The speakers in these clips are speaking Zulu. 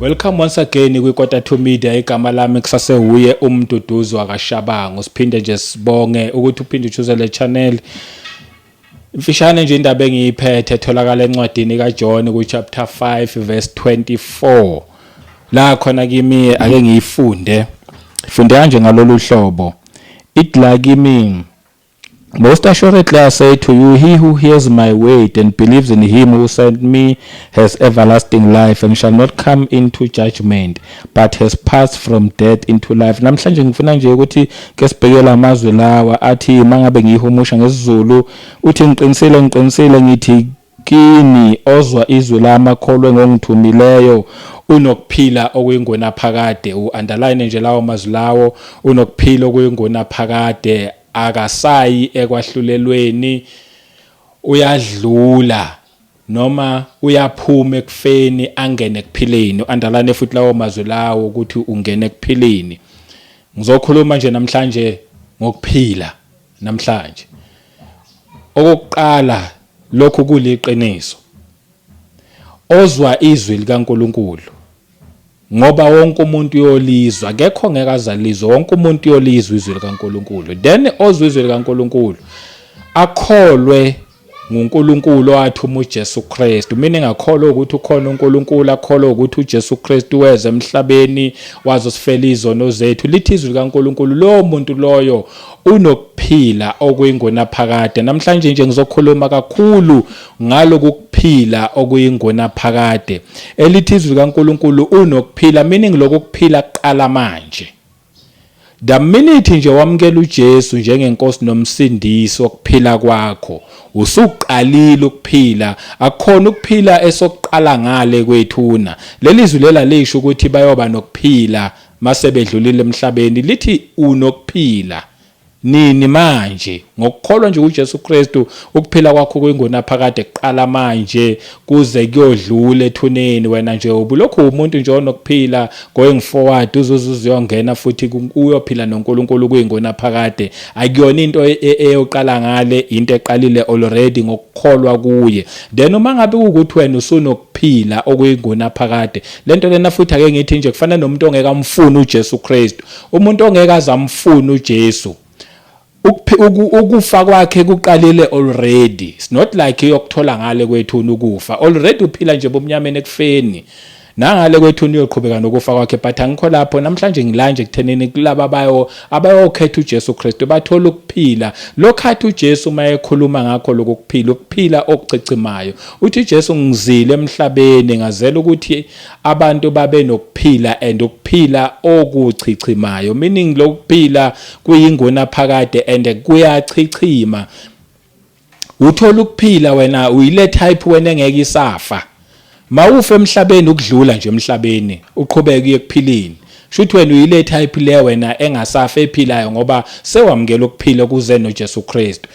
Welcome once again kwiKota 2 Media igama lami kusasewuye umduduzo akashabango siphinde nje sibonge ukuthi uphinde uchuze le channel Imfishane nje indaba engiyiphethe etholakala encwadini kaJohn kuchapter 5 verse 24 la khona kimi ake ngiyifunde funde kanje ngalolu hlobo it la kimi Most assuredly I say to you, he who hears my word and believes in him who sent me has everlasting life and shall not come into judgment, but has passed from death into life namhlanje ngifuna nje ukuthi ke sibheke lamazwi lawa athi mangabe ngiyihumusha ngesizulu uthi ngiqinisile ngiqinisile ngithi kini ozwa izwi lami akholwe ngongithumileyo unokuphila okuyingona phakade u-underline nje lawo mazwi lawo unokuphila okuyingona phakade akasayi ekwahlulelweni uyadlula noma uyaphuma ekufeni angene ekuphileni andalane futhi lawo mazwi lawo ukuthi ungena ekuphileni ngizokhuluma nje namhlanje ngokuphila namhlanje okokuqala lokhu kuliqiniso ozwa izwi likaNkuluNkulu ngoba wonke umuntu uyolizwa kekho ongeke azalizwe wonke umuntu uyolizwa izwi likaNkuluNkulu then ozwa izwi likaNkuluNkulu akholwe nguNkulunkulu owathuma uJesu Kristu mina engakholwa ukuthi ukhona uNkulunkulu akholwa ukuthi uJesu Kristu weze emhlabeni wazosifela izono zethu lithi izwi likaNkulunkulu lowo muntu loyo unokuphila okuyingona phakade namhlanje nje ngizokhuluma kakhulu ngaloku kuphila okuyingunaphakade elithi izwi likaNkulunkulu unokuphila meaning lokhu kuphila kuqala manje the minute nje wamukela uJesu njengenkosi nomsindisi wokuphila kwakho usuqalile ukuphila akukhona ukuphila esokuqala ngale kwethuna leli zwi lela lisho ukuthi bayoba nokuphila mase bedlulile emhlabeni lithi unokuphila Nini manje? Ngokukholwa nje kuJesu Kristu, ukuphila kwakho kuyingunaphakade kuqala manje kuze kuyodlula ethuneni. Wena nje ubulokhu uwumuntu nje onokuphila, going forward uzuze uzuyongena futhi uyophila noNkulunkulu kuyingunaphakade. Akuyona into e, e, eyoqala ngale, into eqalile already ngokukholwa kuye. Then uma ngabe kuwukuthi wena usunokuphila okuyingunaphakade, lento lena futhi ake ngithi nje kufana nomuntu ongeke amfune uJesu Kristu. Umuntu ongeke azamfuna uJesu ukufa kwakhe kuqalile already it's not like yokuthola ngale kwethu ukufa already uphila nje bomnyameni ekufeni nangale kwethu niyoqhubeka nokufa kwakhe but angikho lapho namhlanje ngilanje ekuthenini kulaba bayo abayokhetha uJesu Kristu bathola ukuphila lokhathi uJesu uma ekhuluma ngakho lokuphila ukuphila okucicimayo uthi uJesu ngizile emhlabeni ngazela ukuthi abantu babenokuphila and ukuphila okuchichimayo meaning lokuphila kuyingona phakade and kuyachichima uthola ukuphila wena uyile type wena engeke isafa mawufe emhlabeni ukudlula nje emhlabeni uqhubeke ukuphilini Shuthi wena uyile type le wena engasafa ephilayo ngoba sewamukela ukuphila kuze noJesu Kristu.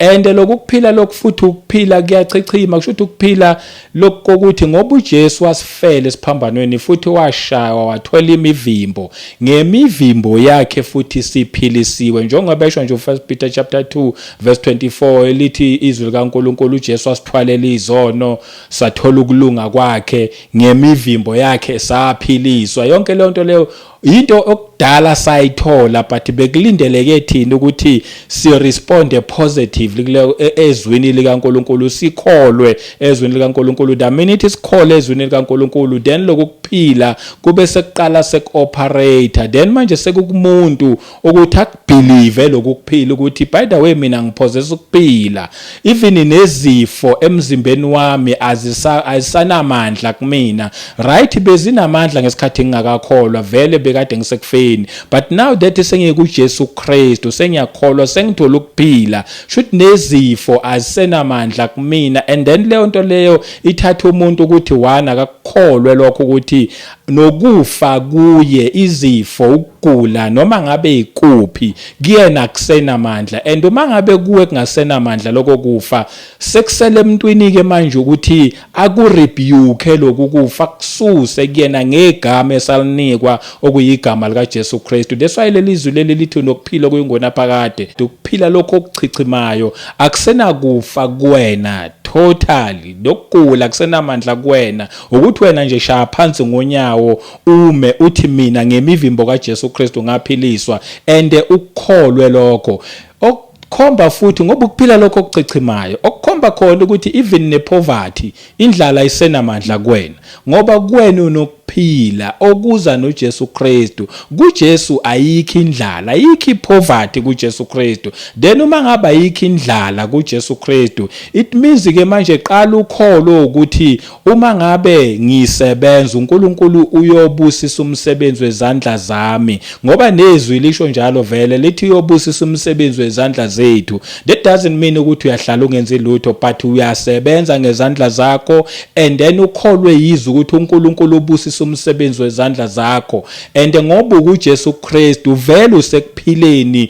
And lokuphila lokufuthi ukuphila kuyachichima kushuthi ukuphila lokuthi ngoba uJesu wasifela esiphambanweni futhi washaywa wathola imivimbo ngemivimbo yakhe futhi siphilisiwe njengoba esho nje uFirst Peter chapter 2 verse 24 elithi izwi likaNkuluNkulu uJesu wasithwalela izono sathola ukulunga kwakhe ngemivimbo yakhe saphiliswa yonke leyo nto leyo into okudala sayithola but bekulindeleke thina ukuthi si responde positively kule e, ezwini likaNkuluNkulu sikholwe ezwini likaNkuluNkulu the minute sikhole ezwini likaNkuluNkulu then lokuphila kube sekuqala sekuoperator then manje sekukumuntu ukuthi akubhilive lokukuphila ukuthi by the way mina ngiphozesa ukuphila even nezifo emzimbeni wami azisa ayisanamandla kumina right bezinamandla ngesikhathi ngingakakholwa vele bekade ngisekufeni but now that sengiku Jesu Kristu sengiyakholwa sengithola ukuphila should nezifo azisenamandla kumina and then leyo nto leyo ithatha umuntu ukuthi wana akakukholwe lokho ukuthi nokufa kuye izifo ukugula noma ngabe ikuphi kuyena kusenamandla and uma ngabe kuwe kungasenamandla lokho kufa sekusele emntwini ke manje ukuthi aku rebuke lokhu kufa kususe kuyena ngegama esalinikwa okuyigama lika Jesu Kristu that's why leli izwi leli lithi nokuphila okuyingona phakade ukuphila lokho okuchichimayo akusenakufa kuwena totally nokugula kusenamandla kuwena Ukuthi wena nje shaya phansi ngonyawo ume uthi mina ngemivimbo kaJesu Kristu ngaphiliswa and ukukholwe lokho okukhomba futhi ngoba ukuphila lokho okuchichimayo okukhomba khona ukuthi even nepoverty indlala isenamandla kuwena ngoba kuwena unokuphila okuza noJesu Kristu kuJesu ayikho indlala ayikho ipoverty kuJesu Kristu then uma ngabe ayikho indlala kuJesu Kristu it means ke manje qala ukholo ukuthi Uma ngabe ngisebenza, uNkulunkulu uyobusisa umsebenzi wezandla zami. Ngoba nezwi lisho njalo vele, lithi uyobusisa umsebenzi wezandla zethu. That doesn't mean ukuthi uyahlala ungenzi lutho, but uyasebenza ngezandla zakho and then ukholwe yizwi ukuthi uNkulunkulu ubusisa umsebenzi wezandla zakho. And ngoba ukuJesu Kristu, vele usekuphileni.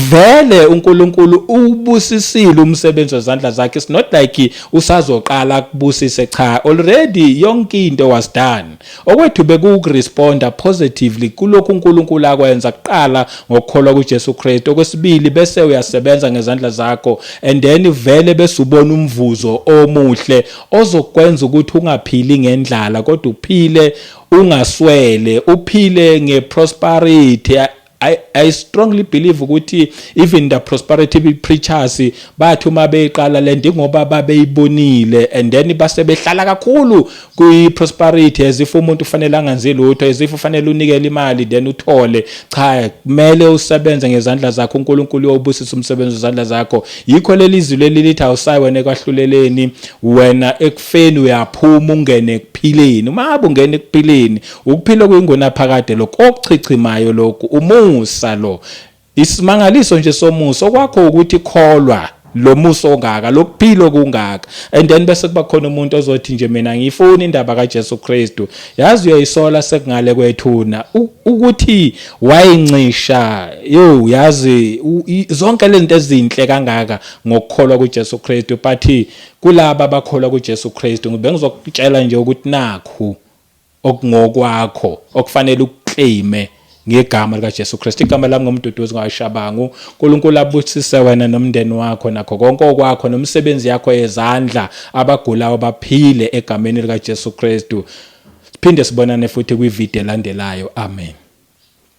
Vele uNkulunkulu ubusisile umsebenzi wezandla zakhe it's not like usazoqala kubusise cha already yonke into was done okwethu bekuwukuresponder positively kulokhu uNkulunkulu akwenza kuqala ngokukholwa kuJesu Kristu okwesibili bese uyasebenza ngezandla zakho and then vele bese ubona umvuzo omuhle ozokwenza ukuthi ungaphili ngendlala kodwa uphile ungaswele uphile ngeprosperity I, I strongly believe ukuthi even the prosperity preachers bathi uma beyiqala lento ingoba babeyibonile and then base behlala kakhulu kwi prosperity as if umuntu ufanele anganzi lutho as if ufanele unikele imali then uthole cha kumele usebenze ngezandla zakho uNkulunkulu uyobusisa umsebenzi wezandla zakho yikho lelizwi leli lithi awusayi wena ekwahluleleni wena ekufeni uyaphuma ungene ekuphileni uma abungena ekuphileni Ukuphila okuyingunaphakade lokhu okuchichimayo lokhu umusa lo. Isimangaliso nje somusa okwakho ukuthi kholwa lo musa ongaka lokuphila okungaka and then bese kuba khona umuntu ozothi nje mina ngiyifuna indaba kaJesu Kristu yazi uyayisola sekungale kwethuna ukuthi wayincisha yo yazi zonke lezinto ezinhle kangaka ngokukholwa kuJesu Kristu but kulaba abakholwa kuJesu Kristu ngibe ngizokutshela nje ukuthi nakhu okungokwakho okufanele ukuclaime ngegama likaJesu Kristu igama lami ngomduduzi ngawashabangu uNkulunkulu abusise wena nomndeni wakho nakho konke okwakho nomsebenzi yakho yezandla abagulayo baphile egameni likaJesu Kristu siphinde sibonane futhi kwivideo elandelayo amen